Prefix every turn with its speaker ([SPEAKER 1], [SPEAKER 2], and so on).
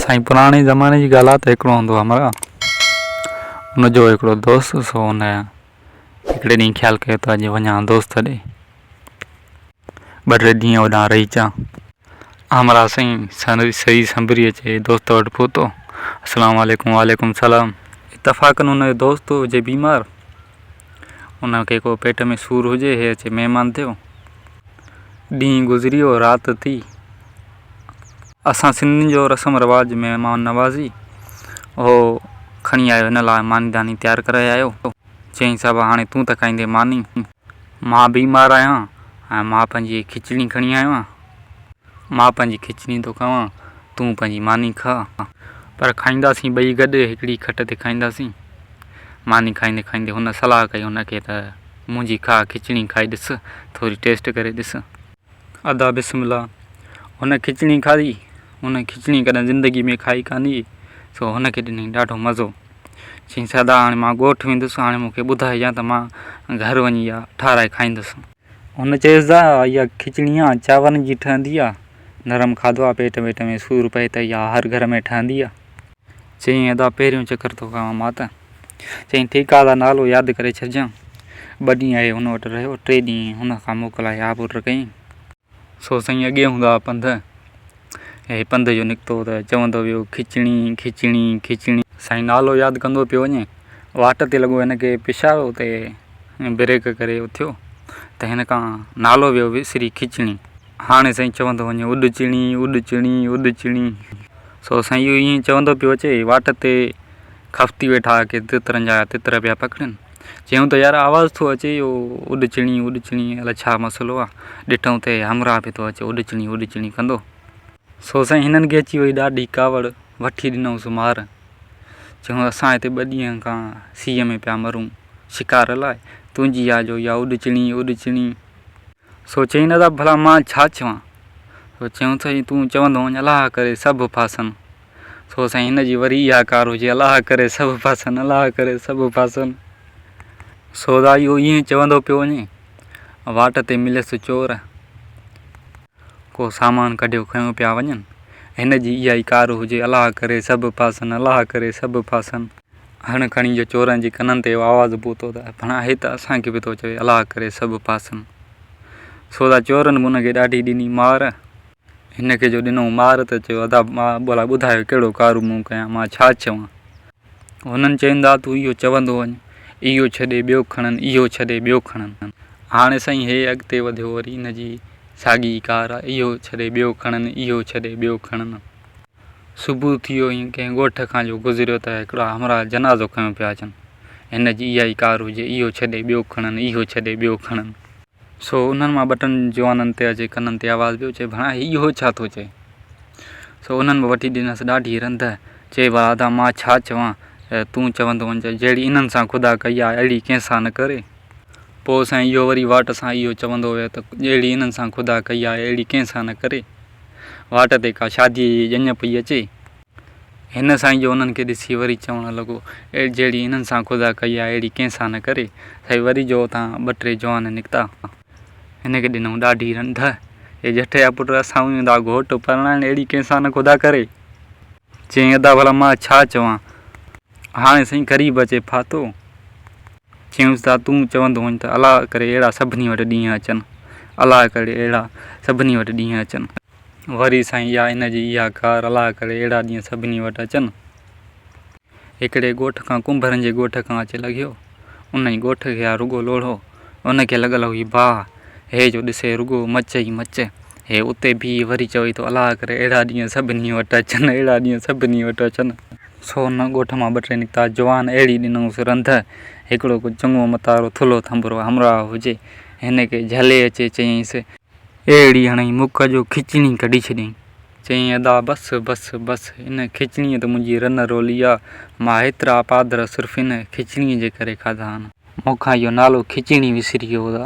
[SPEAKER 1] سائين پراڻي زماني جي ڳالهه آ ته هڪڙو هوندو هو مراد ان جو هڪڙو دوست هو سو ان هڪڙي ڏينهن خيال ڪيو ته اڄ وڃان دوست ڏي ٻه ٽي ڏينهن هوڏانهن رهي اچان همراهه سائين سري سنبري اچي دوست وٽ پهتو السلام عليڪم وعليڪم السلام اتفاقا ان جو دوست هجي بيمار ان کي ڪو پيٽ ۾ سور هجي هي اچي مهمان ٿيو ڏينهن گذريو رات ٿي اسان سنڌين جو رسم رواج مهمان نوازي اهو کڻي آيو هن لاء ماني داني تيار ڪرائي آيو. چيائين صاحب هاڻي تون ته کائيندين ماني. مان بيمار آهيان ۽ مان پنهنجي کچڻي کڻي آيو آهيان. مان پنهنجي کچڻي ٿو کائان تون پنهنجي ماني کاء. پر کائينداسين ٻئي گڏ هڪڙي کٽ تي کائينداسين. ماني کائيندي کائيندي هن صلاح ڪئي هن کي ته منهنجي کاء کچڻي کائي ڏس ٿوري ٽيسٽ ڪري ڏس. ادا بسم الله هن کچڻي کاڌي هن کچڻي ڪڏهن زندگي ۾ کائي ڪانه هئي سو هن کي ڏني ڏاڍو مزو چيائينس ادا هاڻي مان ڳوٺ ويندس هاڻي مون کي ٻڌائي يا ته مان گهر وڃي اها ٺاهرائي کائيندس هن چيس ادا اها کچڻي آ چانورن جي ٺهندي آ نرم کاڌو آ پيٽ ويٽ ۾ سور پئي ته اها هر گهر ۾ ٺهندي آ چيائين، ادا پهريون چڪر ٿو کائان مان ته. چيائين، ٺيڪ آ ادا نالو ياد ڪري ڇڏجان. ٻه ڏينهن اهي هن وٽ رهيو، ٽي ڏينهن هن کان موڪلائي آب ور ڪيائين. سو سائين اڳي هوندا ها پنڌ. هي پنڌ جو نڪتو ته چوندو ويو کچڻي، کچڻي، کچڻي. سائين نالو ياد ڪندو پيو وڃي. واٽ تي لڳو هن کي پيشاب اتي بريڪ ڪري اٿيو ته هن کان نالو ويو وسري کچڻي. هاڻي سائين چوندو وڃي اڏچڻي، اڏچڻي، اڏچڻي. سو سائين اهو ائين چوندو پيو اچي واٽ تي خفتي ويٺا ڪي تترن جا تتر پيا پڪڙين چيون ته يار آواز ٿو اچي اهو اڏ چڻي اڏ چڻي الاء ڇا مسئلو آ ڏٺئون ته همراهه به ٿو اچي اڏ چڻي اڏ چڻي ڪندو سو سائين هنن کي اچي وئي ڏاڍي ڪاوڙ وٺي ڏنئونس مار چيون اسان هتي ٻه ڏينهن کان سيء ۾ پيا مرون شڪار لاء تنهنجي آ جو اها اڏ چڻي اڏ چڻي سو چيائين نه ته ڀلا مان ڇا چوان؟ سو چيائون سائين تون چوندو وڃ الله ڪري سڀ ڦاسن. سو سائين هن جي وري اها ڪار هجي الله ڪري سڀ ڦاسن الله ڪري سڀ ڦاسن. سو ذا اهو ائين چوندو پيو وڃي واٽ تي مليس چور. ڪو سامان ڪڍيو کنيو پيا وڃن هن جي اها ئي ڪار هجي الله ڪري سڀ ڦاسن الله ڪري سڀ ڦاسن. هڻ کڻي جو چورن جي ڪنن تي اهو آواز پهتو ته ڀڻا هي ته اسان کي به ٿو چوي الله ڪري سڀ پاسن. سو ته چورن به ان کي ڏاڍي ڏني مار. هن کي جو ڏنو مار ته چيو ادا مان ڀلا ٻڌايو ڪهڙو ڪارو مون ڪيان مان ڇا چوان. هنن چيو ادا تون اهو چوندو وڃ اهو ڇڏي ٻيو کڻن اهو ڇڏي ٻيو کڻن. هاڻي سائين هي اڳتي وڌيو وري ان جي ساڳي ئي ڪار اهو ڇڏي ٻيو کڻن اهو ڇڏي ٻيو کڻن. صبح ٿيو ۽ ڪنهن ڳوٺ کان جو گذريو ته هڪڙا همراهه جنازو کنيو پيا اچن. هن جي اها ئي ڪار هجي، اهو ڇڏي ٻيو کڻن، اهو ڇڏي ٻيو کڻن. سو انهن مان ٻه ٽن جوانن تي اچي ڪنن تي آواز پيو اچي، ڀڻا هي اهو ڇا ٿو چئي؟ سو انهن به وٺي ڏنس ڏاڍي رنڌ. چئي برادا مان ڇا چوان، تون چوندو وڃج، جهڙي انهن سان خدا ڪئي آ، اهڙي ڪنهن سان نه ڪري. پوء سائين اهو وري واٽ سان اهو چوندو ويو ته جهڙي انهن سان خدا ڪئي آ، اهڙي ڪنهن سان نه ڪري. واٽ تي ڪا شاديء جي ڄڃ پئي اچي. هن سائين جو انهن کي ڏسي وري چوڻ لڳو، جهڙي انهن سان خدا ڪئي آهي، اهڙي ڪنهن سان نه ڪري. سائين وري جو اتان ٻه ٽي جوان نڪتا. هن کي ڏنائون ڏاڍي رنڌ، اي ڄٺيا پٽ، اسان اهي هوندا گهوٽ پرڻائڻ اهڙي ڪنهن سان نه خدا ڪري. چيائين ادا ڀلا مان ڇا چوان. هاڻي سائين غريب اچي ڦاٿو. چيائونس ادا تون چوندو هئين ته الله ڪري اهڙا سڀني وٽ ڏينهن اچن. الله ڪري اهڙا سڀني وٽ ڏينهن اچن. وري سائين اها هن جي اها ڪار الله ڪري اهڙا ڏينهن سڀني وٽ اچن. هڪڙي ڳوٺ کان ڪنڀرن جي ڳوٺ کان اچي لڳيو. انهي ڳوٺ کي ها رڳو لوڙهو ان کي لڳل هئي باهه، هيء جو ڏسي رڳو مچ ئي مچ. هيء اتي بيهي وري چوي ٿو الاء ڪري اهڙا ڏينهن سڀني وٽ اچن، اهڙا ڏينهن سڀني وٽ اچن. سو ان ڳوٺ مان ٻه ٽي نڪتا جوان اهڙي ڏنائونس رنڌ، هڪڙو ڪو چڱو متارو ٿلهو ٿنڀرو همراهه هجي. هن کي جهلي اچي چيائينس. اهڙي هڻئي مک جو کچڻي ڪڍي ڇڏيائين. چيائين ادا بس بس بس ان کچڻيء ته منهنجي رن روليا مان هيترا پادر صرف ان کچڻيء جي ڪري کاڌا آهن. مون کان اهو نالو کچڻي وسري ويو ادا.